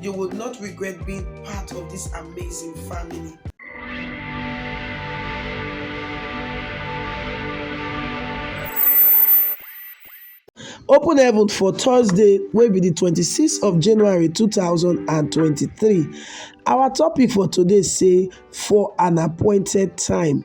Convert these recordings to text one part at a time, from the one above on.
You would not regret being part of this amazing family. open heaven for thursday wey be di 26th of january 2023 our topic for today say for an appointed time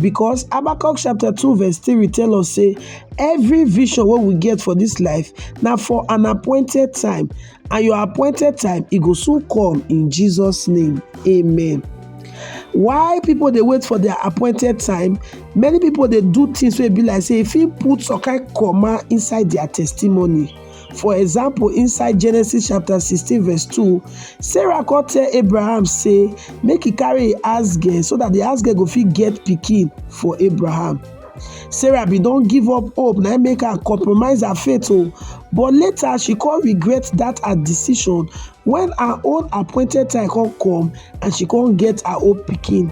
Because Habakkuk chapter 2 verse 3 tell us say every vision what we get for this life now for an appointed time and your appointed time it go soon come in Jesus name. Amen. why people dey wait for their appointed time many people dey do things wey be like say e fit put some kind comma inside their testimony For example, inside Genesis chapter 16, verse 2, Sarah come tell Abraham, say, make he carry ask girl so that the ask girl go fit get picking for Abraham. Sarah be don't give up hope, now make her compromise her faith. Oh. But later she come regret that her decision when her own appointed time come come and she can't get her own picking.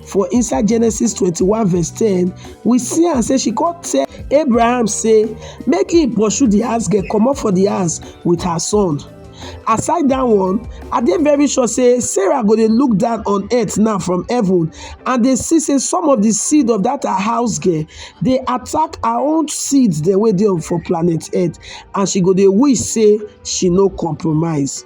for inside genesis 21 verse 10 we see am say she come tell abraham say make he pursue the house girl comot for the house with her son aside that one i dey very sure say sarah go dey look down on earth now from heaven and dey see say some of the seed of that her house girl dey attack her own seeds dem wey dey for planet earth and she go dey wish say she no compromise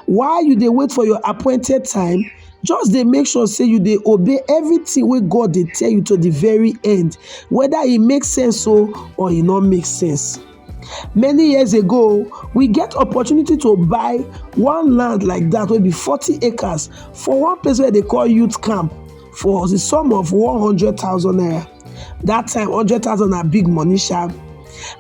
While you dey wait for your appointed time, just dey make sure say you dey obey everything wey God dey tell you to the very end, whether e make sense o or e no make sense. Many years ago, we get opportunity to buy one land like that wey be 40 acres for one place wey they call youth camp for the sum of 100,000 naira. that time hundred thousand na big money sha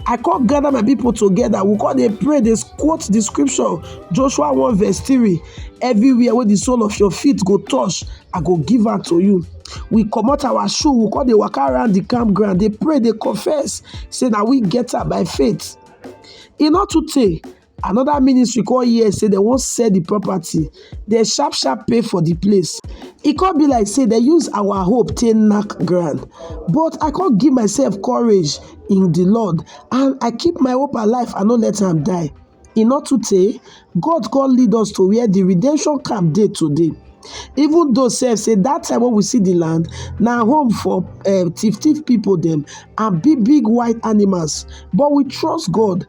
i come gather my people together we come dey pray dey quote the scripture joshua one verse three everywhere wey the sole of your feet go touch i go give am to you we comot our shoe we come dey waka around the campground dey pray dey confess say na we get am by faith e no too tey Another ministry come hear say dem wan sell the property, dem sharp sharp pay for the place. E come be like say dem use our hope take knack ground. But I come give myself courage in the Lord and I keep my hope alive, I no let am die. E no too tey, God come lead us to where the redemption camp dey today. Even though sef say that time wey we see the land, na home for um thief thief people dem and big big wild animals. But we trust God